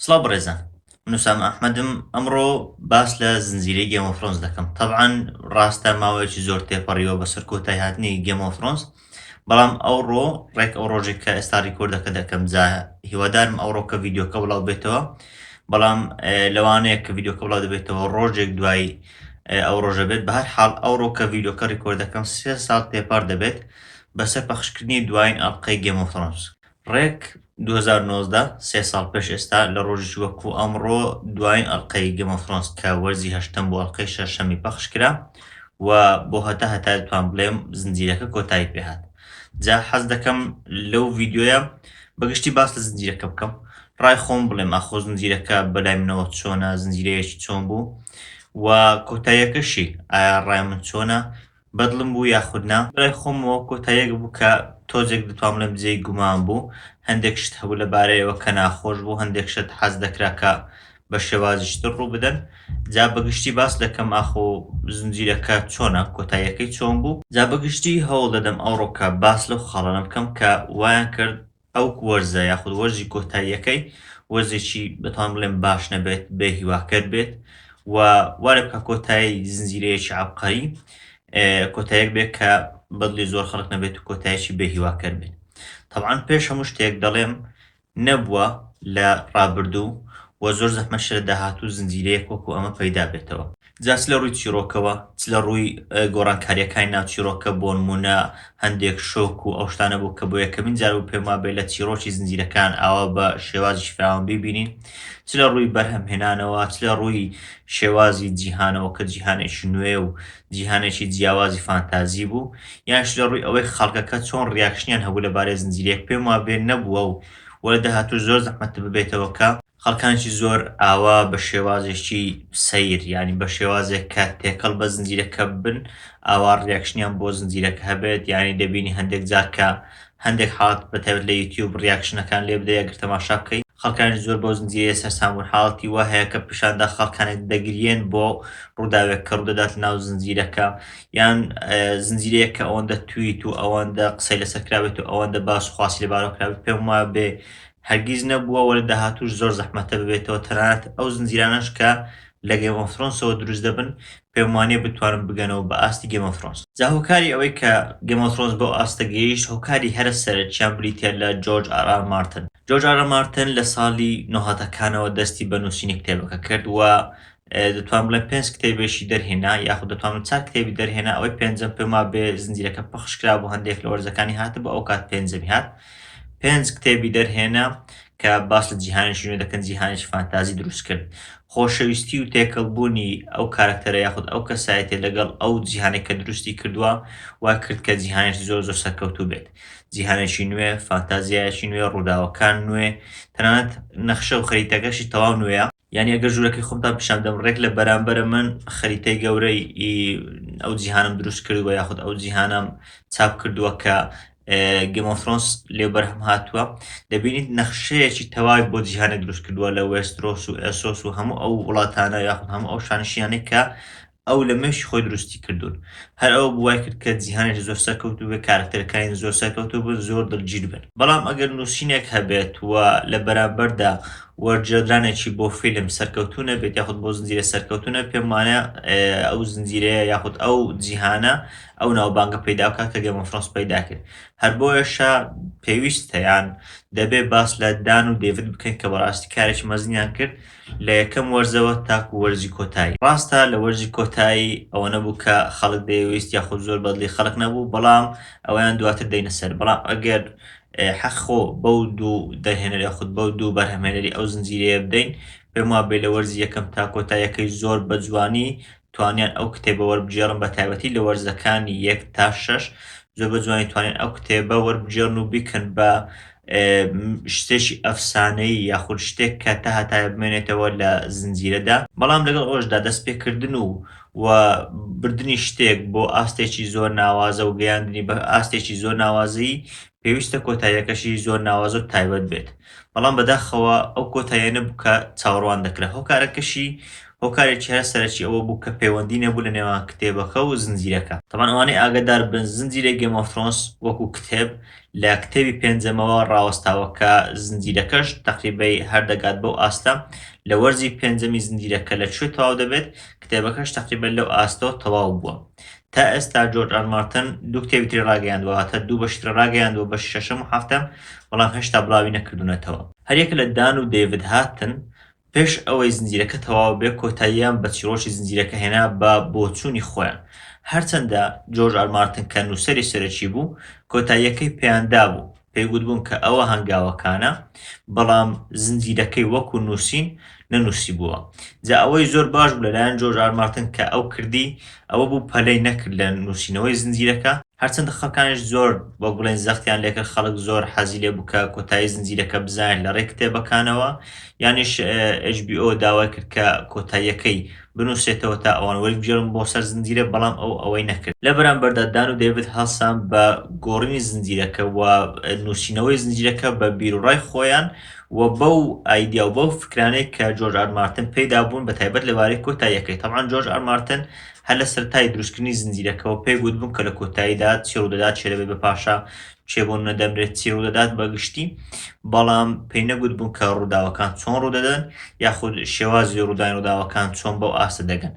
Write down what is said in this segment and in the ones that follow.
سڵاو بڕێزان من وسام ئەحمەدم ئەمڕۆ باس لە زنجیرەی گێمۆفرۆنس دەکەم تەبعاان ڕاستە ماوەیەکی زۆر تێپەڕیوە بەسەر کۆتای هاتنی گێمۆفرۆنس بەڵام ئەوڕۆ ڕێک ئەو ڕۆژێک کە ئێستا ڕیکۆردەکە دەکەم جا هیوادارم ئەوڕۆ کە ڤیددیوکە بڵاو بێتەوە بەڵام لەوانەیە کە ڤیددیوکە بڵاو دەبێتەوە ڕۆژێک دوای ئەو ڕۆژە بێت بەهر حاڵ ئەوڕۆ کە ڤیددیوکە ڕیکۆردەکەم سێ ساڵ تێپەر دەبێت بەسەر پەخشکردنی دوایین ئەڵلقەی گەمۆفرۆنس ڕێک دوو هەزار و نۆزدە، سێ ساڵ پێش ئێستا لە ڕۆژێکی وەکو ئەمڕۆ دوایین ئەڵقەی گەم ئۆف ثرۆنس کە وەرزی هەشتەم بۆ ئەڵقەی شەشەمی پەخش کرا و بۆ هەتا هەتا دەتوان بڵێم زنجیرەکە کۆتایی پێهات جا حەز دەکەم لەو ڤیدیۆیە بەگشتی باس لە زنجیرەکە بکەم ڕای خۆم بڵێم ئاخۆ زنجیرەکە بەلای منەوە چۆنە زنجیرەیەکی چۆن بوو و کۆتاییەکەشی ئایا ڕای من چۆنە بەدڵم بوو یاخود نا؟ بەرای خۆمەوە کۆتاییەک بوو کە تۆزێک دەتوان بڵێم جێی گومان بوو، هەندێک شت هەبوو لەبارەیەوە کە ناخۆش بوو، هەندێک شت حەز دەکرا کە بە شێوازیش تر ڕووبدەن، جا بە گشتی باس دەکەم ئاخۆ زنجیرەکە چۆنە، کۆتاییەکەی چۆن بوو؟ جا بە گشتی هەوڵ دەدەم ئەوڕۆکە باس لەو خاڵانە بکەم کە وایان کرد ئەو وەرزە یاخود وەرزی کۆتاییەکەی وەرزێکی دەتوانم بڵێم باش نەبێت، بێ هیواکەر بێت و وا لێ بکا کۆتایی زنجیرەیەکی عەبقەری کۆتاییەک بێت کە بەدڵی زۆر خەڵک نەبێت و کۆتایەکی بێ هیواکەر بێت. تەبعەن پێش هەموو شتێک دەڵێم نەبووە لە ڕابردوو و زۆر زەحمەتشە لە داهاتوو زنجیرەیەک وەکوو ئەمە پەیدا بێتەوە. جا چ لەڕووی چیڕۆکەوە چ لەڕووی گۆڕانکارییەکانی ناو چیڕۆکە بۆنموونە هەندێک شۆک و ئەو شتانە بوو کە بۆ یەکەمین جار بوو پێم وابێ لە چیڕۆکی زنجیرەکان ئاوا بە شێوازێکی فراوان بیبینین چ لەڕووی بەرهەمهێنانەوە چ لەڕووی شێوازی جیهانەوە کە جیهانێکی نوێ و جیهانێکی جیاوازی فانتازی بوو یانش لەڕووی ئەوەی خەڵکەکە چۆن ڕیاکشنیان هەبوو لەبارەی زنجیرەیەک پێم وابێ نەبووە و وە لە داهاتووش زۆر زەحمەتە ببێتەوە کە خەڵکانێکی زۆر ئاوا بە شێوازێکی سەیر یانی بە شێوازێک کە تێکەڵ بە زنجیرەکە بن ئاوا ڕیاکشنیان بۆ زنجیرەکە هەبێت یانی دەبینی هەندێک جار کە هەندێک حاڵەت بە تایبەت لە یوتیوب ڕیاکشنەکان لێ بدەی ئەگەر تەماشا بکەی خەڵکانێکی زۆر بەو زنجیرەیە سەرسام بوون حاڵەتی وا هەیە کە پیشان دا خەڵکانێک دەگریێن بۆ ڕووداوێک کە ڕوودەدات لەناو زنجیرەکە یان زنجیرەیەک کە ئەوەندە تویت و ئەوەندە قسەی لەسەر کرابێت و ئەوەندە باس و خواسی لەبارەوە کرابێت پێم وابێ هەرگیز نەبووە وە لە داهاتووش زۆر زەحمەتە ببێتەوە تەنانەت ئەو زنجیرانەش کە لە گەیم ئۆف ثرۆنسەوە دروست دەبن پێم وانیە بتوانن بگەنەوە بە ئاستی گەیم ئۆف ثرۆنس جا هۆکاری ئەوەی کە گەیم ئۆف ثرۆنس بەو ئاستە گەیشت هۆکاری هەرە سەرەکیان بریتیە لە جۆرج ئار ئار مارتن جۆرج ئار ئار مارتن لە ساڵی نۆهەتەکانەوە دەستی بە نووسینی کتێبەکە کرد وە دەتوانم بڵێم پێنج کتێبێکی دەرهێنا یاخود دەتوانم چار کتێبی دەرهێنا ئەوەی پێنجەم پێما بێ زنجیرەکە پەخش کرا بۆ هەندێک لە وەرزەکانی هاتە بە ئەو کات پێنجەمی هات پێنج کتێبی دەرهێنا کە باس لە جیهانی شوێ دەکەن جیهانیش فانتازی دروست کرد خۆشەویستی و تێکەڵبوونی ئەو کارکتەرە یاخود ئەو کەسایەتێ لەگەڵ ئەو جیهانێک کە دروستی کردووە وا کرد کە جیهانش زۆر زۆر سەرکەوتوو بێت جیهانێکی نوێ فانتازیایەکی نوێ ڕووداوەکان نوێ تەنانەت نەخشە و خەریتەکەشی تەواو نوێە یانی ئەگەر ژوورەکەی خۆمتان پیشان بدەم، ڕێک لە بەرانبەرە من خەریتەی گەورەی ئەو جیهانم دروست کردووە یاخود ئەو جیهانەم چاپ کردووە کە گێم ئۆف ثرۆنس لێ بەرهەم هاتووە، دەبینیت نەخشەیەکی تەواوی بۆ جیهانێک دروست کردووە لە وێسترۆس و ئێسۆس و هەموو ئەو وڵاتانە یاخود هەموو ئەو شانشینانەی کە ئەو لە مێشکی خۆی دروستی کردوون هەر ئەوە بوو وای کرد کە جیهانێکی زۆر سەرکەوتوو بێت، کارەکتەرەکانی زۆر سەرکەوتوو بن، زۆر دڵگیر بن. بەڵام ئەگەر نووسینێک هەبێت و لە بەرامبەردا وەرگێڕدرانێکی بۆ فیلم سەرکەوتوو نەبێت یاخود بۆ زنجیرە سەرکەوتوو نەبێت پێم وانە ئەو زنجیرەیە یاخود ئەو جیهانە ئەو ناوبانگە پەیدا بکات کە گەیم ئۆف ثرۆنس پەیدا کرد هەر بۆیەشە پێویستە یان دەبێت باس لە دان و دەیڤد بکەین کە بەڕاستی کارێکی مەزنیان کرد لە یەکەم وەرزەوە تاکو وەرزی کۆتایی. ڕاستە لە وەرزی کۆتایی ئەوە نەبوو کە خەڵک دەیەویست یاخود زۆر بەدڵی خەڵک نەبوو، بەڵام ئەوەیان دواتر دێینە سەر، بەڵام ئەگەر حەق خۆ بەو دوو دەرهێنەر یاخود بەو دوو بەرهەمهێنەری ئەو زنجیرەیە بدەین، پێموابێ لە وەرزی یەکەم تا کۆتاییەکەی زۆر بەجوانی توانیان ئەو کتێبە وەربگێڕن بە تایبەتی لە وەرزەکانی یەک تا شەش زۆر بە جوانی توانین ئەو کتێبە وەربگێڕن و بیکەن بە شتێکی ئەفسانەی یاخود شتێک کە تا هەتایە بمێنێتەوە لە زنجیرەدا بەڵام لەگەڵ ئەوەشدا دەستپێکردن و و بردننی شتێک بۆ ئاستێکی زۆر ناوازە و گەیاندنی بە ئاستێکی زۆر ناوازەی پێویستە کۆتاییەکەشی زۆر ناوازە و تایبەت بێت بەڵام بەداخەوە ئەو کۆتاییانە بوو کە چاوەڕوان دەکرا هۆکارەکەشی هۆکارێکی هەرە سەرەکی ئەوە بوو کە پەیوەندی نەبوو لە نێوان کتێبەکە و زنجیرەکە تەبان ئەوانەی ئاگادار بن زنجیرەی گەیم ئۆف ترۆنس وەکو کتێب لە کتێبی پێنجەمەوە ڕاوەستاوە کە زنجیرەکەش تەقریبەی هەر دەگات بەو ئاستە لە وەرزی پێنجەمی زنجیرەکە لە کوێ تەواو دەبێت کتێبەکەش تەقریبەن لەو ئاستەوە تەواو بووە تا ئێستا جۆرج ئار مارتن دوو کتێبی تری ڕاگەیاندووە واتە دوو بەشی تر ڕاگەیاندووە بەشی شەشەم و حەفتەم بەڵام هێشتا بڵاوی نەکردوونەتەوە. هەریەک لە دان و دەیڤد هاتن پێش ئەوەی زنجیرەکە تەواو بێت کۆتاییان بە چیڕۆکی زنجیرەکە هێنا بە بۆچوونی خۆیان هەرچەندە جۆرج ئار مارتن کە نووسەری سەرەکی بوو کۆتاییەکەی پێیان دابوو پێی گوتبووم کە ئەوە هەنگاوەکانە، بەڵام زنجیرەکەی وەکو نووسین نەنووسیبووە. جا ئەوەی زۆر باش بوو لەلایەن جۆرج ئار مارتن کە ئەو کردی، ئەوە بوو پەلەی نەکرد لە نووسینەوەی زنجیرەکە، هەرچەندە خەڵکانیش زۆر وەک بڵێین زەختیان لێکرد، خەڵک زۆر حەزی لێ بوو کە کۆتایی زنجیرەکە بزانێت لەڕێی کتێبەکانەوە، یانیش ئێچ بی ئۆ داوای کرد کە کۆتاییەکەی بنوسێتەوە تا ئەوان وەربگێڕن بۆ سەر زنجیرە بەڵام ئەو ئەوەی نەکرد. لە بەرامبەردا دان و دەیڤد هەڵسان بە گۆڕینی زنجیرەکە و نوسینەوەی زنجیرەکە بە بیروڕای خۆیان و بەو ئایدیا و بەو فکرانەی کە جۆرج ئار مارتن پێیدا بوون بەتایبەت لەبارەی کۆتاییەکەی تەبعەن جۆرج ئار مارتن هەر لە سەرەتای دروستکردنی زنجیرەکەوە پێی گوتبوون کە لە کۆتاییدا چی ڕوودەدات چێدەبێت بە پاشا کێ بۆ نەدەمرێت چی ڕوودەدات بە گشتی، بەڵام پێی نەگوتبوون کە ڕووداوەکان چۆن ڕوودەدەن یاخود شێوازی ڕوودانی ڕووداوەکان چۆن بەو ئاستە دەگەن.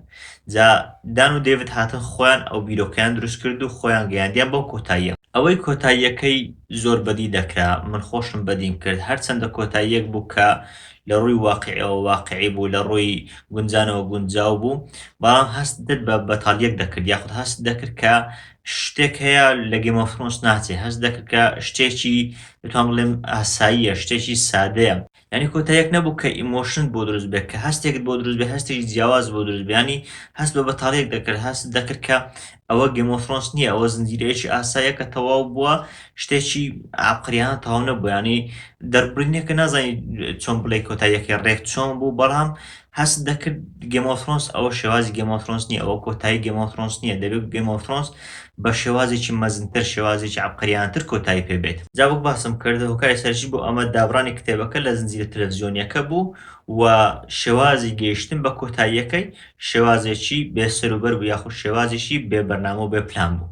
جا دان و دەیڤد هاتن خۆیان ئەو بیرۆکەیان دروست کرد و خۆیان گەیاندیان بەو کۆتاییە. ئەوەی کۆتاییەکەی زۆر بەدی دەکرا، من خۆشم بەدیم کرد، هەرچەندە کۆتاییەک بوو کە لە ڕووی واقیعیەوە واقیعی بوو، لە ڕووی گونجانەوە گونجاو بوو، بەڵام هەستت بە بەتالیەک دەکرد یاخود هەستت دەکرد کە شتێک هەیە لە گەیم ئۆف ثرۆنس ناچێ هەست دەکرد کە شتێکی دەتوان بڵێم ئاساییە شتێکی سادەیە یعنی کۆتایەک نەبوو کە ئیمۆشنت بۆ دروست بێت کە هەستێکت بۆ دروست بێ هەستێکی جیاواز بۆ دروست بیانی هەست بە بەتاڵێک دەکرد هەست دەکرد کە ئەوە گەیم ئۆف ثرۆنس نییە ئەوە زنجیرەیەکی ئاسایە کە تەواو بووە شتێکی ئاقریانە تەواو نەبوو ینی دەربڕینێکە نازانی چۆن بڵێ کۆتاییەکەی ڕێک چۆن بوو بەڵام هەست دەکرد گێم ئۆف ثرۆنس ئەوە شێوازی گێم ئۆف ثرۆنس نییە ئەوە کۆتایی گێم ئۆف ثرۆنس نییە دەبێت گێم ئۆف ثرۆنس بە شێوازێکی مەزنتر شێوازێکی عەبقەریانەتر کۆتایی پێ بێت جا وەک باسم کرد هۆکاری سەرەکی بۆ ئەمە دابڕانی کتێبەکە لە زنجیرە تەلەڤزیۆنییەکە بوو و شێوازی گەیشتن بە کۆتاییەکەی شێوازێکی بێسەر و بەر بوو یاخود شێوازێکی بێ بەرنامە و بێ پلان بوو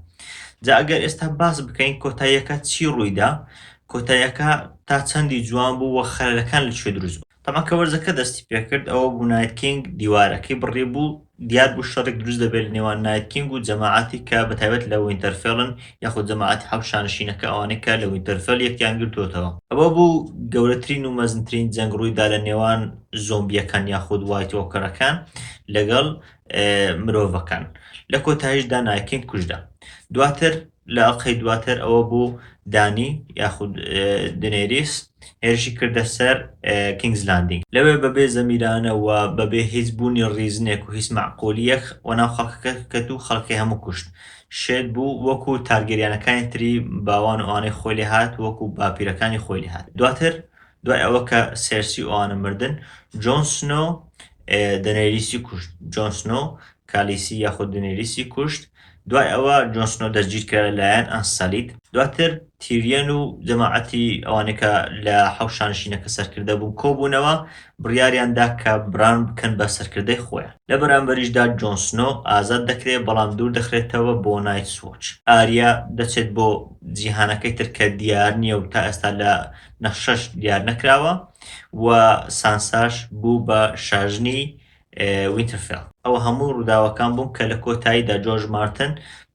جا ئەگەر ئێستا باس بکەین کۆتاییەکە چی ڕوویدا کۆتاییەکە تا چەندی جوان بوو و خەلەکان لە کوێ دروست بوو تەبعەن کە وەرزەکە دەستی پێکرد ئەوە بوو نایت کینگ دیوارەکەی بڕی بوو دیار بوو شەڕێک دروست دەبێت لە نێوان نایت کینگ و جەماعەتی کە بە تایبەت لە وینتەرفێڵن یاخود جەماعەتی حەوت شانشینەکە ئەوانەی کە لە وینتەرفێڵ یەکیان گرتووەتەوە. ئەوە بوو گەورەترین و مەزنترین جەنگ ڕووی دا لە نێوان زۆمبییەکان یاخود وایت وۆکەرەکان لەگەڵ مرۆڤەکان لە کۆتاییشدا نایت کینگ کوژرا دواتر لەقەی دواتر ئەوە بوو دانی یاخود دنێریس هێرشی کردە سەر کینگز لاندینگ. لەوێ بەبێ زەمیرانە و بەبێ هیچ بوونی ڕیزنێک و هیچ مەعقولیەک وەناو خەڵکەکە کەت و خەڵکەکەی هەموو کوشت. شێت بوو وەکو تارگێریانەکانی تری باوان و ئەوانەی خۆی لێ هات وەکو باپیرەکانی خۆی لێ هات. دواتر دوای ئەوە کە سێرسی ئەوانە مردن، جۆن سنۆ دەنێریسی کوشت. جۆن سنۆ کالیسی یاخود دنێریسی کوشت. دوای ئەوە جۆن سنۆ دەستگیر کرا لە لایەن ئەنسەلید. دواتر تیریۆن و جەماعەتی ئەوانەی کە لە حەوت شانشینەکە سەرکردە بوون کۆبوونەوە، بڕیاریان دا کە بران بکەن بە سەرکردەی خۆیان. لە بەرامبەریشدا جۆن سنۆ ئازاد دەکرێت بەڵام دوور دەخرێتەوە بۆ نایتس وۆچ. ئاریا دەچێت بۆ جیهانەکەی تر کە دیار نییە و تا ئێستا لە نەخشەش دیار نەکراوە و سانساش بوو بە شاژنی وینترفێڵ. ئەوە هەموو ڕووداوەکان بوون کە لە کۆتاییدا جۆرج مارتن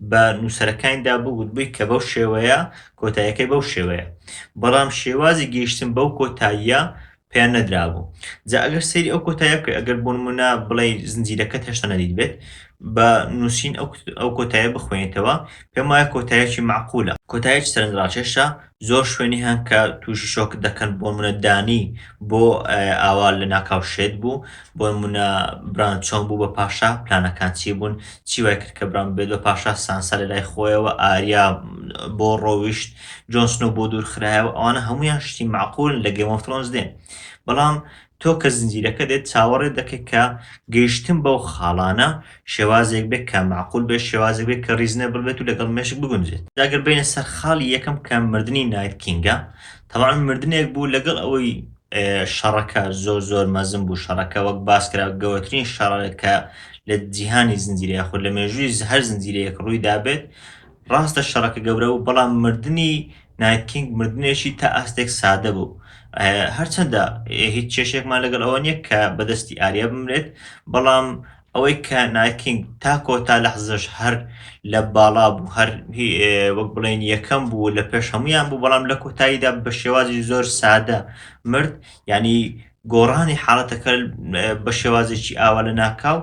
بە نووسەرەکانیدا بوو گوتبووی کە بەو شێوەیە کۆتاییەکەی بەو شێوەیە. بەڵام شێوازی گەیشتن بەو کۆتاییە پێیان نەدرابوو. جا ئەگەر سەیری ئەو کۆتاییە بکەی ئەگەر بۆ نموونە بڵێی زنجیرەکەت هێشتا نەدیتبێت بە نووسین ئەو کۆتاییە بخوێنیتەوە پێم وایە کۆتاییەکی مەعقولە. کۆتاییەکی سەرنجڕاکێشە زۆر شوێنی هەن کە تووشی شۆک دەکەن بۆ منە دانی بۆ ئاوا لە ناکاو شێت بوو بۆ منە بران چۆن بوو بە پاشا پلانەکان چی بوون چی وای کرد کە بران بێت بە پاشا سانسا لە لای خۆیەوە ئاریا بۆ ڕۆویشت جۆنسنۆ بۆ دوور خراەوە ئەوانە هەمویان شتی معقول لە گەمەفترۆنز دێن بەڵام تۆ کە زنجیرەکە دێت چاوەڕێت دەکەیت کە گەیشتن بەو خاڵانە شێوازێک بێت کە مەعقول بێت، شێوازێک بێت کە ڕیزنێبڵ بێت و لەگەڵ مێشک بگونجێت. جا گەر بێینە سەر خاڵی یەکەم کە مردنی نایت کینگە، تەبعەن مردنێک بوو لەگەڵ ئەوەی شەڕەکە زۆر زۆر مەزن بوو، شەڕەکە وەک باس کرا گەورەترین شەڕێک کە لە جیهانی زنجیرە یاخود لە مێژووی هەر زنجیرەیەک ڕووی دابێت، ڕاستە شەڕەکە گەورە بوو بەڵام مردنی نایت کینگ مردنێکی تا ئاستێک سادە بوو، هەرچەندە هیچ کێشێکمان لەگەڵ ئەوە نییە کە بە دەستی ئاریا بمرێت، بەڵام ئەوەی کە نایت کینگ تا کۆتا لەحزەش هەر لە باڵا بوو، هەر وەک بڵێین یەکەم بوو، لە پێش هەموویان بوو، بەڵام لە کۆتاییدا بە شێوازی زۆر سادە مرد، یانی گۆڕانی حاڵەتەکە بە شێوازێکی ئاوا لەناکاو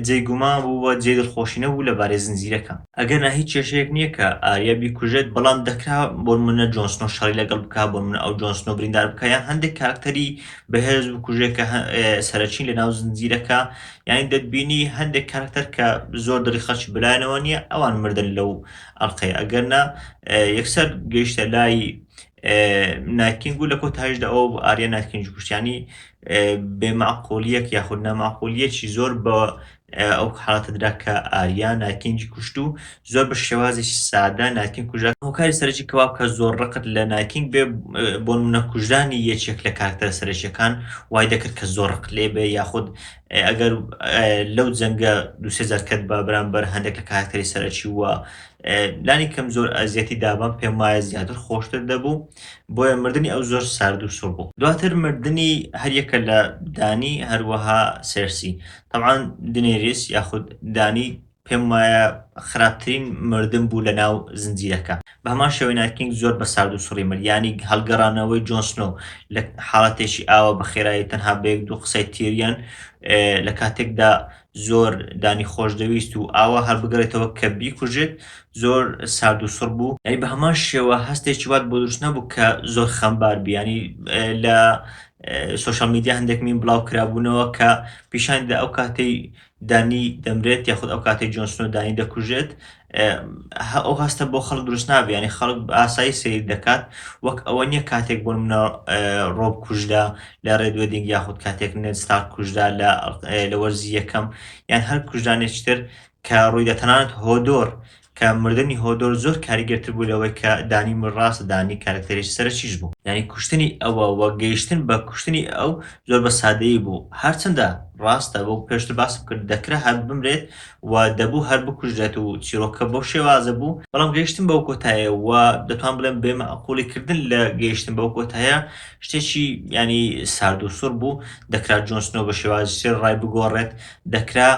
جێی گومان بوو و جێی دڵخۆشی نەبوو لەبارەی زنجیرەکە. ئەگەرنا هیچ کێشەیەک نییە کە ئاریا بیکوژێت، بەڵام دەکرا بۆنموونە جۆن سنۆ شەڕی لەگەڵ بکات، بۆنموونە ئەو جۆن سنۆ بریندار بکات یان هەندێک کارەکتەری بەهێز بکوژێت کە سەرەکین لەناو زنجیرەکە، یانی دەتبینی هەندێک کارەکتەر کە زۆر دڵی خەڵکی بەلایانەوە نییە ئەوان مردن لەو ئەڵقەیە، ئەگەرنا یەکسەر گەیشتە لای نایتکینگ و لە کۆتایشدا ئەوە بوو ئاریا نایتکینگی کوشت یانی بێ مەعقولیەک یاخود نامەعقولیەکی زۆر بە ئەو حاڵەتە درا کە ئاریا نایتکینگی کوشت و زۆر بە شێوازێکی سادە نایتکینگ کوژرا هۆکاری سەرەکی کەوا بکە زۆر ڕقت لە نایتکینگ بێ بۆ نمونە کوژرانی یەکێک لە کارکتەرە سەرەکیەکان وای دەکرد کە زۆر ڕق لێ بێ یاخود ئەگەر لەو جەنگە دوسێ جار کەت بە بەرامبەر هەندێک لە کارکتەری سەرەکی وە لانی کەم زۆر ئەزیەتی دابام پێم وایە زیاتر خۆشتر دەبوو بۆیە مردنی ئەو زۆر سارد و سوڕ بوو دواتر مردنی هەریەکە لە دانی هەروەها سێرسی تەبعان دنێریس یاخود دانی پێم وایە خراپترین مردن بوو لە ناو زنجیرەکە بە هەمان شێوەی نایتکینگ زۆر بە سارد و سوڕی مرد یانی هەڵگەڕانەوەی جۆن سنۆ لە حاڵەتێکی ئاوە بە خێرایی تەنها بە یەک دوو قسەی تیریان لە کاتێکدا زۆر دانی خۆش دەویست و ئاوا هەر بگەڕێتەوە کە بیکوژێت زۆر سارد و سڕ بوو، یانی بە هەمان شێوە هەستێکی وات بۆ دروست نەبوو کە زۆر خەمبار بی، یانی لە سۆشیال میدیا هەندێک میم بڵاو کرابوونەوە کە پیشانی دەدا ئەو کاتەی دانی دەمرێت یاخود ئەو کاتەی جۆن سنۆ دانی دەکوژێت ئه و هەستە بۆ خەڵک دروست نابێ یانی خەڵک بە ئاسایی سەیر دەکات وەک ئەوە نییە کاتێک بۆ منە ڕۆب کوژدا لە ڕێدوێدینگ یاخود کاتێک نێت ستار کوژدا لە لە وەرزی یەکەم یان هەر کوژدانێکتر کە ڕوویدا تەنانەت هۆدۆر کە مردنی هۆدۆر زۆر کاریگەرتر بوو لەوەی کە دانی من ڕاست دانی کارکتەریش سەرچیش بوو یعنی کوشتنی ئەوە وە گەیشتن بە کوشتنی ئەو زۆر بە سادەیی بوو هەرچەندە ڕاستە بۆ پێشتر باسم کرد دەکرا هەر بمرێت و دەبوو هەر بکوژرێت و چیرۆکەکە بەو شێوازە بوو، بەڵام گەیشتن بەو کۆتایە و دەتوانم بڵێم بێ مەعقوڵی کردن لە گەیشتن بەو کۆتایە شتێکی یانی سارد و سوڕ بوو، دەکرا جۆن سنۆو بە شێوازی تر ڕای بگۆڕێت، دەکرا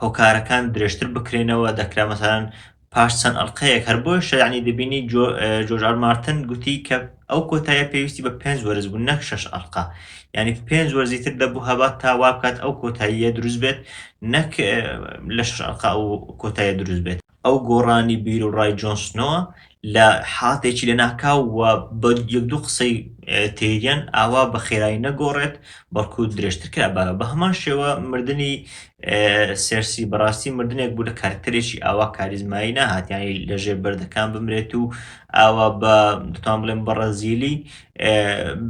هۆکارەکان درێژتر بکرێنەوە، دەکرا مەسەلەن پاش چەند ئەڵقەیەک، هەر بۆیشە یەعنی دەبینی جۆ جۆرج ئار مارتن گوتی کە ئەو کۆتایە پێویستی بە پێنج وەرز بوو نەک شەش ئەڵقە یعنی پێنج وەرزی تر دەبوو هەبات تا وا بکات ئەو کۆتاییە دروست بێت نەک لە شەش ئەڵقە ئەو کۆتایە دروست بێت. ئەو گۆڕانی بیروڕای جۆن سنۆ لە حاڵەتێکی لەناکاو و بە یەک دوو قسەی تێریەن ئاوا بە خێرایی نەگۆڕێت بەڵکو درێژتر کرا بە بە هەمان شێوە مردنی سێرسی بەڕاستی مردنێک بوو لە کارکتەرێکی ئاوا کاریزمایی نەهات یانی لەژێر بەردەکان بمرێت و ئاوا بە دەتوان بڵێم بەڕەزیلی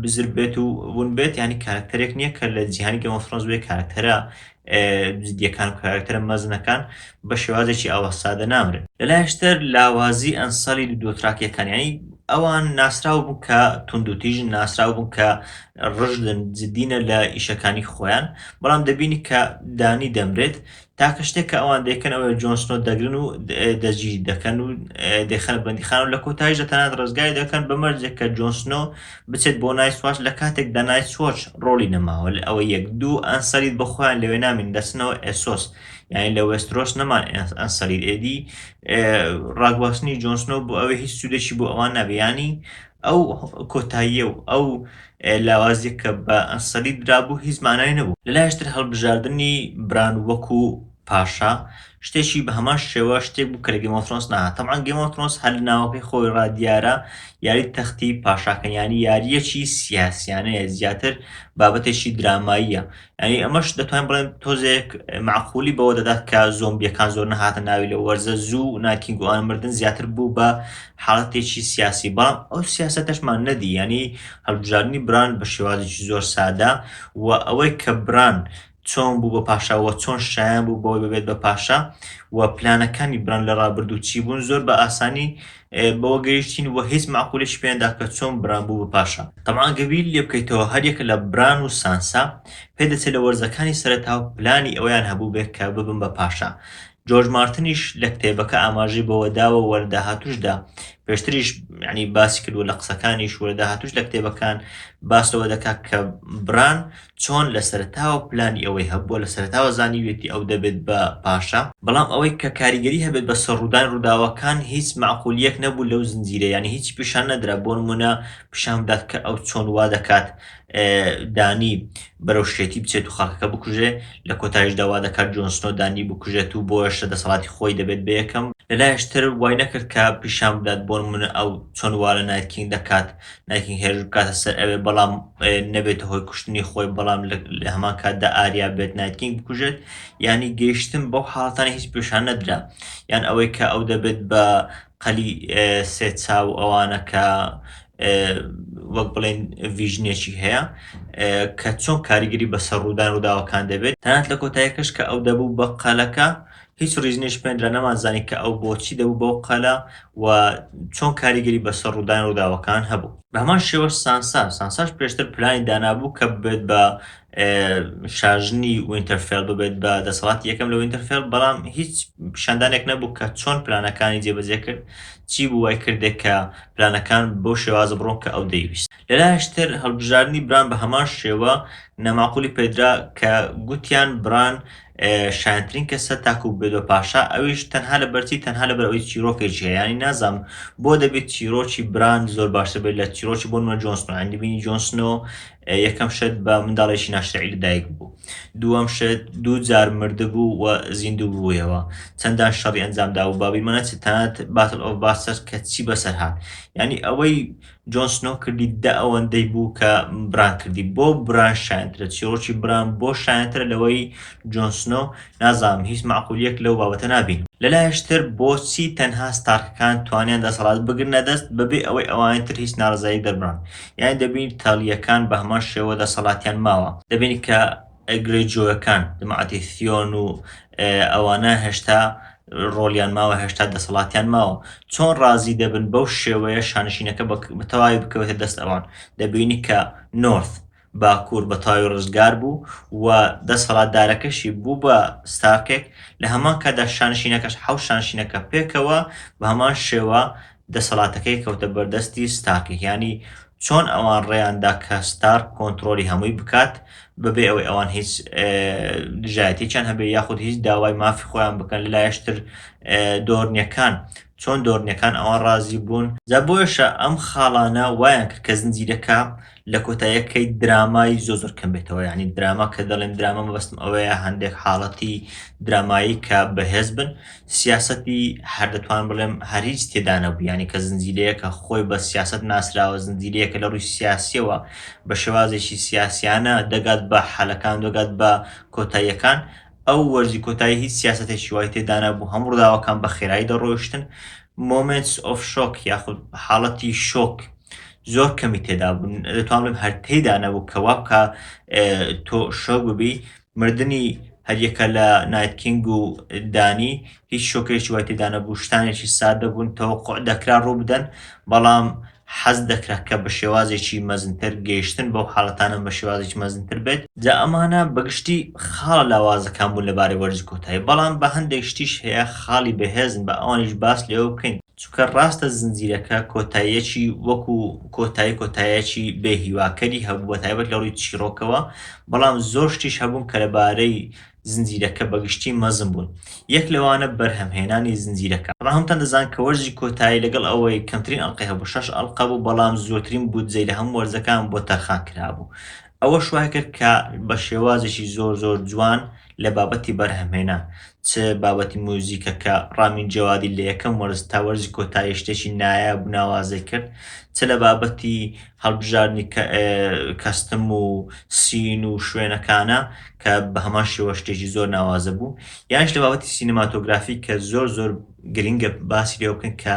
بزر بێت و ون بێت ینی کارکتەرێک نییە کە لە جیهانی گەمەفرۆنز بێ کارکتەرە جدیەکان و کارکتەرە مەزنەکان بە شێوازێکی ئاوا سادە نامرن لەلایشتر لاوازی ئەنسەڵی دۆتراکیەکانیانی ئەوان ناسراو بوو کە توندوتیژن ناسراو بوو کە ڕژدن جدینە لە ئیشەکانی خۆیان بەڵام دەبینی کە دانی دەمرێت تاکە شتێک کە ئەوان دەکەن ئەوەیە جۆنسنۆ دەگرن و دەستگیری دەکەن و دەخەن بەندیخان و لە کۆتایش دەتەنات ڕزگاری دەکەن بە مەرجێک کە جۆنسنۆ بچێت بۆ نایسواش لە کاتێکدا نایسۆچ ڕۆڵی نەماوە لە ئەوە یەک دوو ئەنسەرید بە خۆیان لەوێ نامین دەچنەوە ئێسۆس یعنی لە وێسترۆس نەمان ئەنسەرید ئێدی ڕاگواستنی جۆنسنۆ بۆ ئەوەی هیچ سوودێکی بۆ ئەوان نابێ ینی ئەو کۆتاییە و ئەو لاوازیە کە بە ئەنسەری درابوو هیچ مانای نەبوو. لە لایشتر هەڵبژاردنی بران وەکو پاشا شتێکی بە هەمان شێوە شتێک بوو کە لە گەیم ئۆف ثرۆنس نەهات تەبعەن گەیم ئۆف ثرۆنس هەر لە ناوەکەی خۆی ڕا دیارە یاری تەختی پاشاکەن یانی یاریەکی سیاسیانەیە زیاتر بابەتێکی دراماییە یعنی ئەمەش دەتوانین بڵێن تۆزێک معقولی بەوە دەدات کە زۆمبیەکان زۆر نەهاتە ناوی لە وەرزە زوو ناکینگوان مردن زیاتر بوو بە حاڵەتێکی سیاسی بەڵام ئەو سیاستەشمان نەدی ینی هەڵبژاردننی بران بە شێوازێکی زۆر سادە و ئەوەی کە بران چۆن بوو بە پاشاوە چۆن شایان بوو بەوەی ببێت بە پاشا و پلانەکانی بران لە ڕابردوو چی بوون زۆر بە ئاسانی بەوە گەیشتین وە هیچ مەعقولێکی پێ نەدا کە چۆن بران بوو بە پاشا. تەبعەن گەر بیری لێ بکەیتەوە هەر یەک لە بران و سانسا پێ دەچێ لە وەرزەکانی سەرەتاو پلانی ئەوەیان هەبووبێ کە ببن بە پاشا. جۆرج مارتنیش لە کتێبەکە ئاماژەی بەوە داوە وە لە داهاتووشدا پێشتریش یانی باسی کردووە لە قسەکانیش وە لە داهاتووش لە کتێبەکان باس لەوە دەکا کە بران چۆن لە سەرەتاوە پلانی ئەوەی هەبووە، لە سەرەتاوە زانیویەتی ئەو دەبێت بە پاشا، بەڵام ئەوەی کە کاریگەری هەبێت بەسەر ڕوودانی ڕووداوەکان هیچ مەعقولیەک نەبوو لەو زنجیرە یانی هیچی پیشان نەدرا بۆ نموونە پیشان بدات کە ئەو چۆن وا دەکات دانی بەرەو شێتی بچێت و خەڵکەکە بکوژێ لە کۆتایشدا وا دەکات جۆن سنۆ دانی بکوژێت و بۆیەشە دەسەڵاتی خۆی دەبێت بە یەکەم لەلایش تر وای نەکرد کە پیشان بدات بۆ نموونە ئەو چۆن وا لە نایت کینگ دەکات نایکینگ هێرش بکاتە سەر ئەوێ بەڵام نەبێتە هۆی کوشتنی خۆی بەڵام لە هەمان کاتدا ئاریا بێت نایتکینگ بکوژێت ینی گەیشتن بەو حاڵتانی هیچ پێشان نەدرا یان ئەوەی کە ئەو دەبێت بە قەلی سێ چاو ئەوانە کە وەک بڵێن ڤژنێکی هەیە کە چۆن کاریگەری بەسەر ڕوودان ڕووداوەکان دەبێت تەنات لە کۆتایەکەش کە ئەو دەبوو بە قەلەکە هیچ ریز نەیشمێردرا، نەمانزانی کە ئەو بۆچی دەبوو بەو قەلە و چۆن کاریگەری بەسەر روودانی رووداوەکان هەبوو. بەهەمان شێوەش سانسا، سانساش پێشتر پلانی دانابوو کە ببێت بە شاژنی وینتەرفێڵ، ببێت بە دەسەڵاتی یەکەم لە وینتەرفێڵ، بەڵام هیچ پیشاندانێک نەبوو کە چۆن پلانەکانی جێبەجێکرد، چی بوو وایکردێ کە پلانەکان بەو شێوازە بڕۆن کە ئەو دەیویست. لەلایەش تر هەڵبژاردنی بران بەهەمان شێوە ناماقولی پێدرا کە گوتیان بران شایەنترین کەسە تاکو ببێت بە پاشا ئەویش تەنها لە بەرچی تەنها لە بەرەوەی چیرۆکێکی هەیە ینی نازام بۆ دەبێت چیرۆکی بران زۆر باشتر بێت لە چیرۆکی بۆ نوە جۆنسن هەندی بینی جۆنسنۆ یەکەم شت بە منداڵێکی ناشرعی لەدایک بوو دووەم شت دوو جار مردبوو و زیندوو بوویەوە چەندان شەڕی ئەنجامدا و بابی منەچ تەنات باتل ئۆف باستەر کە چی بەسەر هاات ینی ئەوەی جۆن سنۆ کردی دە ئەوەندەی بوو کە بران کردی بۆ بران شایەنترە چیڕۆکی بران بۆ شایەنترە لەوەی جۆن سنۆ نازانم هیچ مەعقولیەک لەو بابەتە نابینم. لەلایش تر بۆچی تەنها ستارکەکان توانیان دەسەڵات بگرنە دەست بەبێ ئەوەی ئەوانی تر هیچ ناڕەزایی دەربڕن یانی دەبینی تالیەکان بەهەمان شێوە دەسەڵاتیان ماوە دەبینی کە گرەیجۆیەکان، جەماعەتی سیۆن و ئەوانە هێشتا ڕۆڵیان ماوە، هێشتا دەسەڵاتیان ماوە، چۆن ڕازی دەبن بەو شێوەیە شانشینەکە بە تەواوی بکەوێتە دەست ئەوان؟ دەبینی کە نۆرث، باکوور، بە تەواوی ڕزگار بوو و دەسەڵاتدارەکەشی بوو بە ستارکێک، لە هەمان کاتدا شانشینەکەش، حەوت شانشینەکە پێکەوە بە هەمان شێوە دەسەڵاتەکەی کەوتە بەردەستی ستارک یانی چۆن ئەوان ڕێیان دا کە ستارک کۆنترۆلی هەمووی بکات بەبێ ئەوەی ئەوان هیچ دژایەتێکیان هەبێ یاخود هیچ داوای مافی خۆیان بکەن لەلایشتر دۆرنیەکان چۆن دۆرنیەکان ئەوان ڕازی بوون جا بۆیشە ئەم خاڵانە وایان کرد کە زنجیرەکە لە کۆتایەکەی درامای زۆ زۆر کەم بێتەوە یعنی دراما کە دەڵێن دراما مەبەستم ئەوەیە هەندێک حاڵەتی درامایی کە بەهێز بن سیاستی هەر دەتوان بڵێم هەر هیچ تێدانە بیانی کە زنجیرەیەکە خۆی بە سیاست ناسراوە زنجیرەیەکە لە ڕووی سیاسیەوە بە شێوازێکی سیاسیانە دەگات بە حالەکان دەگات بە کۆتاییەکان ئەو وەرزی کۆتایی هیچ سیاسەتێکی وای تێدانەبوو، هەموو ڕووداوەکان بە خێرایی دەڕۆیشتن، Moments of Shock یاخود حاڵەتی شۆک زۆر کەمی تێدابوو، دەتوانم بڵێم هەر تێیدا نەبوو کە وا بکا تۆ شۆک ببی، مردنی هەریەکە لە نایت کینگ و دانی هیچ شۆکێکی وای تێدا نەبوو، شتانێکی سادە بوون تەوەقوع دەکرا ڕووبدەن، بەڵام حەز دەکرا کە بە شێوازێکی مەزنتر گەیشتن بەو حاڵەتانە بە شێوازێکی مەزنتر بێت، جا ئەمانە بە گشتی خاڵە لاوازەکان بوون لەبارەی وەرزی کۆتایی، بەڵام بە هەندێک شتیش هەیە خاڵی بەهێزن با ئەوانیش باس لێوە بکەین، چونکە ڕاستە زنجیرەکە کۆتاییەکی وەکو کۆتایی کۆتاییەکی بێ هیواکەری هەبوو بە تایبەت لە ڕووی چیڕۆکەوە، بەڵام زۆر شتیش هەبوون کە لەبارەی زنجیرەکە بەگشتی مەزن بوون، یەک لەوانە بەرهەمهێنانی زنجیرەکە، بەڵام هەمووتان دەزانن کە وەرزی کۆتایی لەگەڵ ئەوەی کەمترین ئەڵقەی هەبوو شەش ئەڵقە بوو، بەڵام زۆرترین بودجەی لە هەموو وەرزەکان بۆ تەرخان کرابوو، ئەوەش وایکرد کە بە شێوازێکی زۆر زۆر جوان لە بابەتی بەرهەمهێنان چ بابەتی موزیکەکە ڕامین جەوادی لە یەکەم وەرز تا وەرزی کۆتایی شتێکی نایاب و ناوازەی کرد چ لە بابەتی هەڵبژاردنی کەستم و سین و شوێنەکانە کە بە هەمان شێوە شتێکی زۆر ناوازە بوو. یانیش لە بابەتی سینەماتۆگرافی کە زۆر زۆر گرینگە باسی لێوە بکەین کە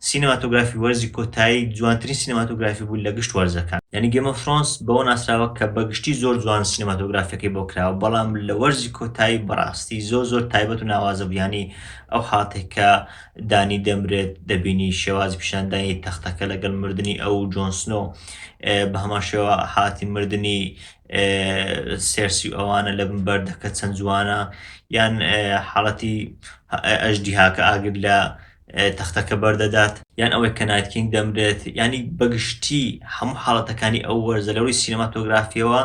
سینەماتۆگرافی وەرزی کۆتایی جوانترین سینەماتۆگرافی بوو لە گشت وەرزەکان. یانی گێم ئۆف ثرۆنس بەوە ناسراوە کە بە گشتی زۆر جوان سینەماتۆگرافیەکەی بۆ کراوە بەڵام لە وەرزی کۆتایی بەڕاستی زۆر زۆر تایبەت و ناوازە بوو یانی ئەو حاڵەتەی کە دانی دەمرێت دەبینی شێوازی پیشاندانی تەختەکە لەگەڵ مردنی ئەو و جۆن سنۆ بە هەمان شێوە هاتی مردنی سێرسی ئەوانە لە بن بەردەکە چەند جوانە یان حاڵەتی ئەژدیهاکە ئاگر لە تەختەکە بەردەدات یان ئەوەی کە نایتکینگ دەمرێت ینی بەگشتی هەموو حاڵەتەکانی ئەو وەرزە لەوەی سینەماتۆگرافیەوە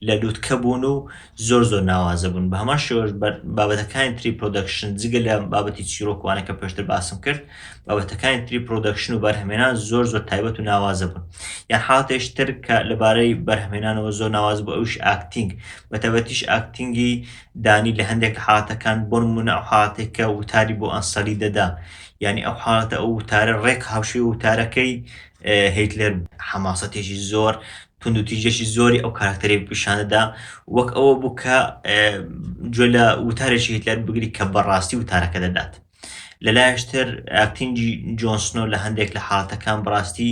لە لوتکە بوون و زۆر زۆر ناوازە بوون بەهەمان شێوەش بابەتەکانی تری پرۆدەکشن جگە لە بابەتی چیرۆکوانە کە پێشتر باسم کرد بابەتەکانی تری پرۆدەکشن و بەرهمێنان زۆر زۆر تایبەت و ناوازە بوون یان حاتێش تر کە لەبارەی بەرهمێنانەوە زۆر ناواز بۆ ئەوش ئاکتینگ بەتەبەتیش ئاکتینگی دانی لە هەندێک حاتەکان بۆن منە ئەو حاتێکە وتاری بۆ ئەنسەلی دەدا یعنی ئەو حاڵەتە ئەو وتارە ڕێک هاوشێ وتارەکەی هیتلەر حەماسەتێکی زۆر توندوتیژیەکی زۆری ئەو کاراکتەرەی پیشان دەدا وەک ئەوە بوو کە گوێ لە وتارێکی هیتلەر بگری کە بەڕاستی وتارەکە دەدات لەلایشتر ئاکتینگی جۆنسنۆ لە هەندێک لە حاڵەتەکان بڕاستی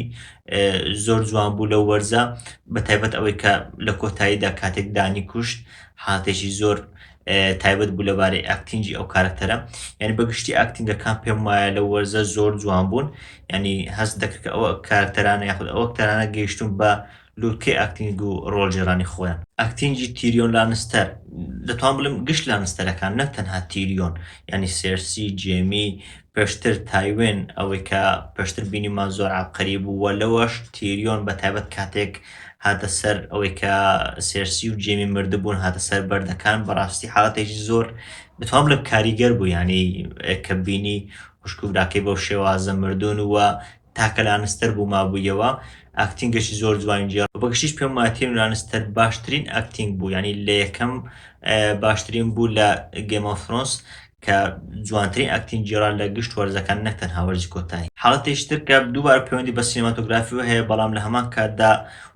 زۆر جوان بوو لەو وەرزە بە تایبەت ئەوەی کە لە کۆتاییدا کاتێک دانی کوشت حاتێکی زۆر تایبەت بوو لەبارەی ئاکتینجی ئەو کارکتەرە یعنی بەگشتی ئاکتینگەکان پێم وایە لە وەرزە زۆر جوان بوون ینی هەست دەکرد کە ئەوە کارکتەرانە یاخود ئەوە کتەرانە گەیشتون بە لوتکەی ئاکتینگ و ڕۆڵجێرانی خۆیان ئاکتینجی تیریۆن لانستەر دەتوان بڵم گشت لانستەرەکان نەک تەنها تیریۆن ینی سێرسی جێمی پێشتر تایوێن ئەوەی کە پێشتر بینیمان زۆر عەبقەری بوو و لەوەش تیریۆن بە تایبەت کاتێک هاتە سەر ئەوەی کە سێرسی و جێمی مردبوون هاتە سەر بەردەکان بەڕاستی حاڵەتێکی زۆر بتوان بڵێم کاریگەر بوو یعنی کە بینی خوشک و براکەی بەو شێوازە مردوون و تاکە لانستەر بوو مابوویەوە ئاکتینگەشی زۆر جوانی جێڕا بەگشتیش پێم وایە تیرم لانستەر باشترین ئاکتینگ بوو یعنی لە یەکەم باشترین بوو لە گەیم ئۆف ثرۆنس کە جوانترین ئاکتینگ جێڕا لە گشت وەرزەکان نەک تەنها وەرزی کۆتایی حاڵەتێکی تر کە دووبارە پەیوەندی بە سینەماتۆگرافیەوە هەیە بەڵام لە هەمان کاتدا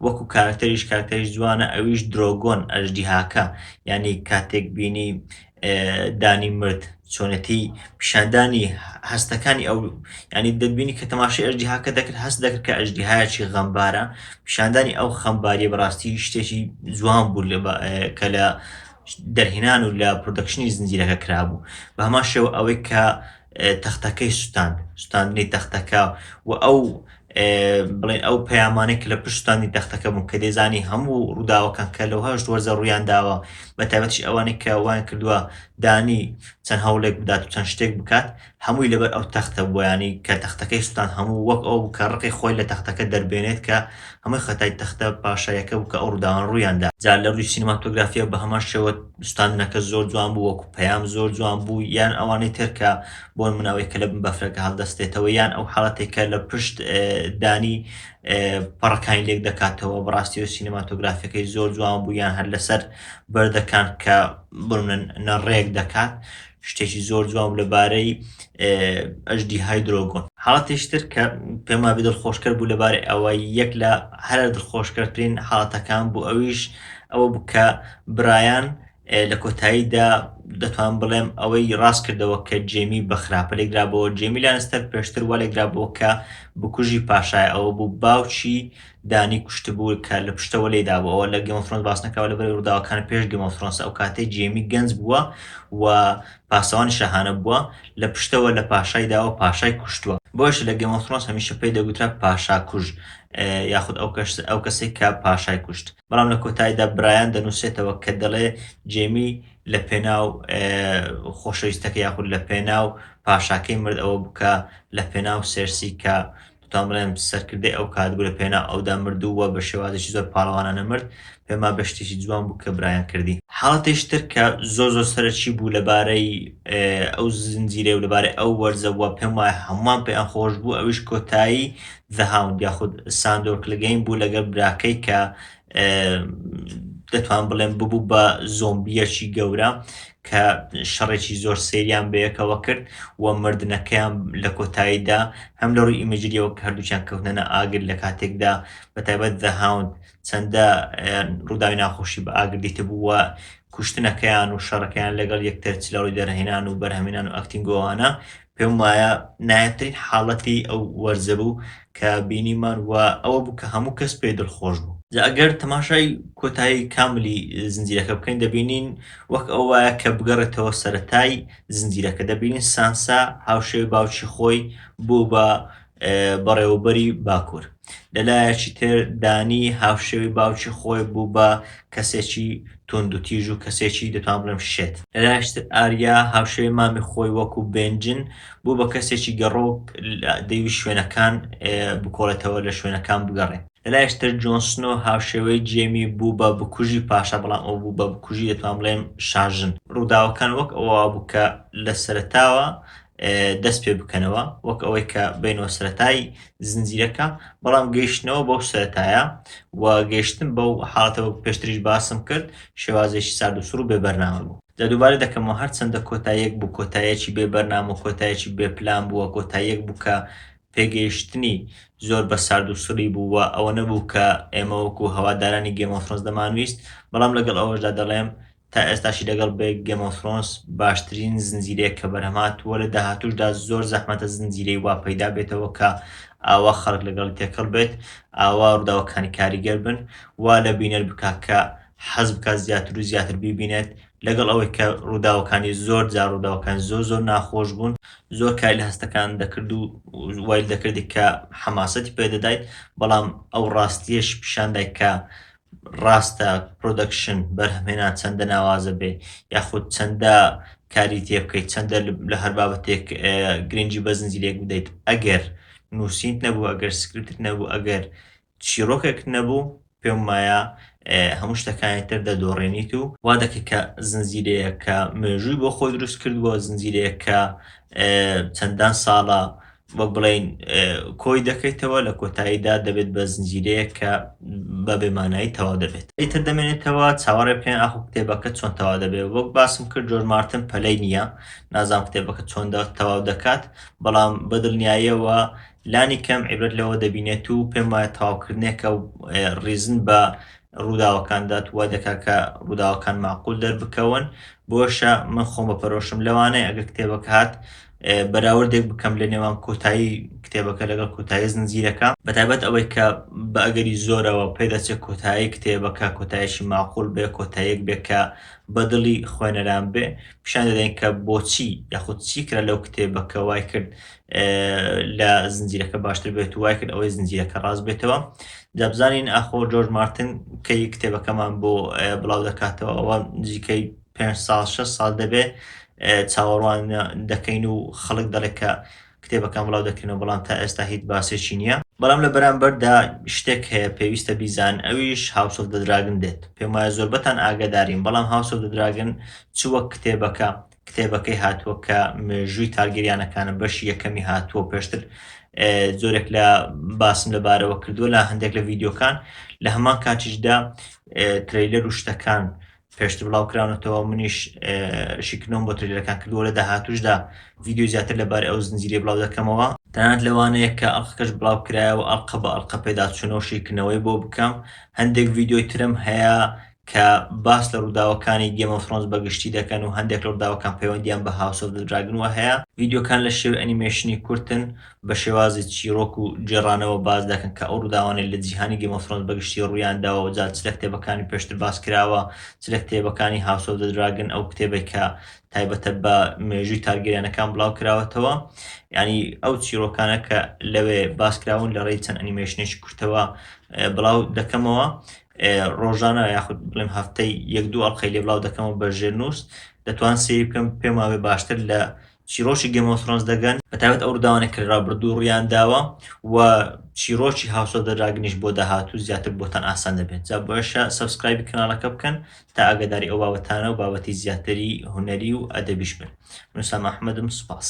وەکو کارەکتەریش کارەکتەریش جوانە ئەویش درۆگۆن ئەژدیهاکە یعنی کاتێک بینی دانی مرد چۆنێتی پیشاندانی هەستەکانی ئەو ینی دەبینی کە تەماشای ئەژدیهاکە دەکرد هەست دەکرد کە ئەژدیهایەکی غەمبارە پیشاندانی ئەو خەمباری بەڕاستی شتێکی جوان بوو کە لە دەرهێنان و لە پرۆدەکشنی زنجیرەکە کرابوو بە هەمان شێوە ئەوەی کە تەختەکەی سوتاند، سوتاندنی تەختەکە و ئەو بڵێن ئەو پەیامانەی کە لە پشت سوتاندنی تەختەکە بوون کە دەیزانی هەموو ڕووداوەکان کە لەو هەشت وەرزە ڕوویان داوە بە تایبەتیش ئەوانەی کە وایان کردووە دانی چەند هەوڵێک بدات و چەند شتێک بکات هەمووی لەبەر ئەو تەختە بوویانی کە تەختەکەی سوتان هەموو وەک ئەو کە ڕقی خۆی لە تەختەکە دەربێنێت کە ئەمە خەتای تەختە پاشایەکە بوو کە ئەو ڕووداوانە ڕوویان دا. جا لە ڕووی سینەماتۆگرافییەوە بە هەمان شێوە سوتاندنەکە زۆر جوان بوو وەکوو پەیام زۆر جوان بوو یان ئەوانەی تر کە بۆ نموونە ئەوەی کە لە بن بەفرەکە هەڵدەستێتەوە یان ئەو حاڵەتەی کە لە پشت دانی پەڕەکانی لێک دەکاتەوە بەڕاستیەوە سینەماتۆگرافیەکەی زۆر جوان بوو یان هەر لەسەر بەردەکان کە بۆ نموونە نەڕێک دەکات شتێکی زۆر جوان بوو لەبارەی ئەژدیهای درۆگۆن. حاڵەتێکی تر کە پێم وابێ دڵخۆشکەر بوو لەبارەی ئەوە، یەک لە هەرە دڵخۆشکەرترین حاڵەتەکان بوو، ئەویش ئەوە بوو کە برایان لە کۆتاییدا دەتوانم بڵێم ئەوەی ڕاست کردەوە کە جێمی بە خراپە لێکدرابۆوە. جێمی لانستەر پێشتر وا لێکدرابۆوە کە بکوژی پاشایە، ئەوە بوو باوکی دانی کوشتبوو کە لە پشتەوە لێی دابوو ئەوە لە گێم ئۆف ثرۆنس باس نەکراوە لەبەر ئەوەی ڕووداوەکان پێش گێم ئۆف ثرۆنسە ئەو کاتەی جێمی گەنج بووە و پاسەوانی شاهانە بووە لە پشتەوە لە پاشای داوە پاشای کوشتووە بۆیەشە لە گێم ئۆف ثرۆنس هەمیشە پێی دەگوترا پاشاکوژ یاخود ئەو کەس ئەو کەسەی کە پاشای کوشت بەڵام لە کۆتایدا برایان دەنووسێتەوە کە دەڵێ جێمی لە پێناو خۆشەویستەکە یاخود لە پێناو پاشاکەی مرد ئەوە بکە لە پێناو سێرسی کە تامرێم سەرکردەی ئەو کات بوو لە پێناو ئەودا مرد و وە بە شێوازێکی زۆر پاڵەوانانە مرد، پێم وابێ شتێکی جوان بوو کە برایان کردی. حاڵەتێکی تر کە زۆر زۆر سەرەکی بوو لە بارەی ئەو زنجیرەی و لە بارەی ئەو وەرزە وە پێم وایە هەمووان پێیان خۆش بوو ئەویش کۆتایی The Hound یاخود ساندۆر کلگەین بوو لەگەڵ براکەی کە دەتوان بڵێم ببوو بە زۆمبیەکی گەورە کە شەڕێکی زۆر سریان بەیەکەوە کرد و مردنەکەیان لە کۆتاییدا هەم لە ڕووی ئیمەجریەوە کە هەردووچیان کەوتنە ئاگر لە کاتێکدا بە تایبەت دەهاوند چەندە ڕووداوی ناخۆشی بە ئاگردیت بووە کوشتنەکەیان و شەڕەکەیان لەگەڵ یەکتر چ لە ڕووی دەرهێنان و بەرهەمێنان و ئەکتینگۆوانە پێم وایە نایابترین حاڵەتی ئەو وەرزە بوو کە بینیمان و ئەوە بوو کە هەموو کەس پێی دڵخۆش بوو. جا ئەگەر تەماشای کۆتایی کاملی زنجیرەکە بکەین دەبینین وەک ئەو وایە کە بگەڕێتەوە سەرەتای زنجیرەکە، دەبینین سانسا هاوشێوەی باوکی خۆی بوو بە بەڕێوەبەری باکوور، لە لایەکی تر دانی هاوشێوەی باوکی خۆی بوو بە کەسێکی توندوتیژ و کەسێکی دەتوان بڵێم شێت. لە لایەکی تر ئاریا هاوشێوەی مامی خۆی وەکوو بێنجن بوو بە کەسێکی گەڕۆک دەیویست شوێنەکان بکۆڵێتەوە لە شوێنەکان بگەڕێ. لە لایەکی تر جۆن سنۆ هاوشێوەی جێمی بوو بە بکوژی پاشا بەڵام ئەو بوو بە بکوژی دەتوان بڵێم شاژن. ڕووداوەکان وەک ئەوە بوو کە لە سەرەتاوە دەست پێ بکەنەوە وەک ئەوەی کە بینەوە سەتای زنجیرەکە بەڵام گەیشتنەوە بەو سەتایە و گەیشتن بەو حاڵەتە وەک پێشتریش باسم کرد شێوازێکی سارد و سوڕ بێ بەرنامە بوو لە دووبارە دەکەمەوە هەرچەندە کۆتایەک بوو کۆتایەکی بێ بەرنام و کۆتایەکی بێ پلان بووە کۆتایەک بوو کە پێگەیشتنی زۆر بە سارد و سڕی بوو و ئەوە نەبوو کە ئێمە وەکو هەوادارانی گێمەفرۆنس دەمانویست بەڵام لەگەڵ ئەوەشدا دەڵێم تا ئێستاشی لەگەڵ بێ گێم ئۆف ثرۆنس باشترین زنجیرەیە کە بەرهەم هاتووە لە داهاتووشدا زۆر زەحمەتە زنجیرەی وا پەیدا بێتەوە کە ئاوا خەڵک لەگەڵی تێکەڵ بێت ئاوا ڕووداوەکانی کاریگەر بن وا لە بینەر بکا کە حەز بکات زیاتر و زیاتر بیبینێت لەگەڵ ئەوەی کە ڕووداوەکانی زۆر جار ڕووداوەکان زۆر زۆر ناخۆش بوون زۆر کاری لە هەستەکان دەکرد و وای دەکردی کە حەماسەتی پێدەدایت بەڵام ئەو ڕاستیەش پیشاندای کە ڕاستە پرۆدەکشن بەرهەمهێنان چەندە ناوازە بێ یاخود چەندە کاری تێ بکەیت چەندە لە هەر بابەتێک گرنگی بە زنجیرەیەک بدەیت ئەگەر نووسینت نەبوو ئەگەر سکرپتت نەبوو ئەگەر چیرۆکێکت نەبوو پێم وایە هەموو شتەکانی تر دەدۆڕێنیت و وا دەکەیت کە زنجیرەیەک کە مێژووی بۆ خۆی دروست کردووە زنجیرەیەک کە چەندان ساڵە وەک بڵێین کۆی دەکەیتەوە لە کۆتاییدا دەبێت بە زنجیرەیەک کە بە بێمانایی تەوا دەبێت ئیتر دەمێنێتەوە چاوەڕێ بکەین ئاخۆ کتێبەکە چۆن تەوا دەبێت وەک باسم کرد جۆر مارتن پەلەی نییە نازام کتێبەکە چۆن تەواو دەکات بەڵام بەدڵنیاییەوە لانی کەم عیبرەت لەوە دەبینێت و پێم وایە تەواوکردنێکە و ڕیزن بە ڕووداوەکاندات وا دەکا کە ڕووداوەکان معقول دەربکەون بۆشە من خۆم بە پەرۆشم لەوانەیە ئەگەر کتێبەکە هات بەراوردێک بکەم لە نێوان کۆتایی کتێبەکە لەگەڵ کۆتایی زنجیرەکە بەتابەت ئەوەی کە بە ئەگەری زۆرەوە پێدەچێت کۆتایی کتێبەکە کۆتایشی ماقول بێ کۆتایەک بێ کە بەدڵی خوێنەران بێ پیشان دەدەین کە بۆچی یاخود چی کرا لەو کتێبەکە وای کرد لە زنجیرەکە باشتر بێت وای کرد ئەوەی زنجیرەکە ڕاست بێتەوە دەبزانین ئاخۆ جۆرج مارتن کەی کتێبەکەمان بۆ بڵاو دەکاتەوە ئەوە نزیکەی پێنج ساڵ شەش ساڵ دەبێ چاوەڕوان دەکەین و خەڵک دەڵێت کە کتێبەکان بڵاو دەکرێنەوە بەڵام تا ئێستا هیچ باسێکی نییە بەڵام لە بەرامبەردا شتێک هەیە پێویستە بیزان ئەویش هاوس ئۆف دە دراگن دێت پێم وایە زۆربەتان ئاگادارین بەڵام هاوس ئۆف دە دراگن چ وەک کتێبەکە کتێبەکەی هاتووە کە مێژووی تارگیریانەکانە بەشی یەکەمی هاتووە پێشتر زۆرێک لە باسم لەبارەوە کردووە لە هەندێک لە ڤیددیوکان لە هەمان کاتیشدا ترەیلەر و شتەکان پێشتر بڵاو کراونەتەوە منیش شیکردنەوەم بۆ ترێلەکان کردووە لە داهاتوشدا ڤیددیو زیاتر لەبارەی ئەو زنجیرەی بڵاو دەکەمەوە تەنانەت لەوانەیە کە ئەڵقەکەش بڵاو کرایەوە ئەڵقە بە ئەڵقە پێداچوونەوە و شیکردنەوەی بۆ بکەم هەندێک ڤیددیۆی ترم هەیە کە باس لە ڕووداوەکانی گێم ئۆف ثرۆنز بە گشتی دەکەن و هەندێک لە ڕووداوەکان پەیوەندیان بە هاوس ئۆف دە دراگن وە هەیە ڤیددیۆکان لە شێوەی ئەنیمەیشنی کورتن بە شێوازی چیڕۆک و گێڕانەوە باس دەکەن کە ئەو ڕووداوانەی لە جیهانی گەیم ئۆف ثرۆنس بەگشتی ڕوویان داوە و جا چ لە کتێبەکانی پێشتر باس کراوە چ لە کتێبەکانی هاوس ئۆف دە دراگن ئەو کتێبەی کە تایبەتە بە مێژووی تارگێریانەکان بڵاو کراوەتەوە یعنی ئەو چیرۆکانە کە لەوێ باس کراون لە ڕێی چەند ئەنیمەیشنێکی کورتەوە بڵاو دەکەمەوە ڕۆژانە یاخود بڵێم هەفتەی یەک دوو ئەڵقەی لێ بڵاو دەکەمەوە بە ژێرنووس دەتوان سێری بکەم پێماوێ باشتر لە چیرۆکی گەیم ئۆف ثرۆنس دەگەن بەتایبەت ئەو ڕوداوانەی کە لەرابردوو ڕویان داوە و چیرۆکی هاوس ئۆف دە دراگنیش بۆ داهاتوو زیاتر بۆتان ئاسان دەبێت جا بۆیشە سەبسکرایبی کەناڵەکە بکەن تا ئاگاداری ئەو بابەتانە و بابەتی زیاتری هونەری و ئەدەبیش بن من سام ئەحمەدم سوپاس.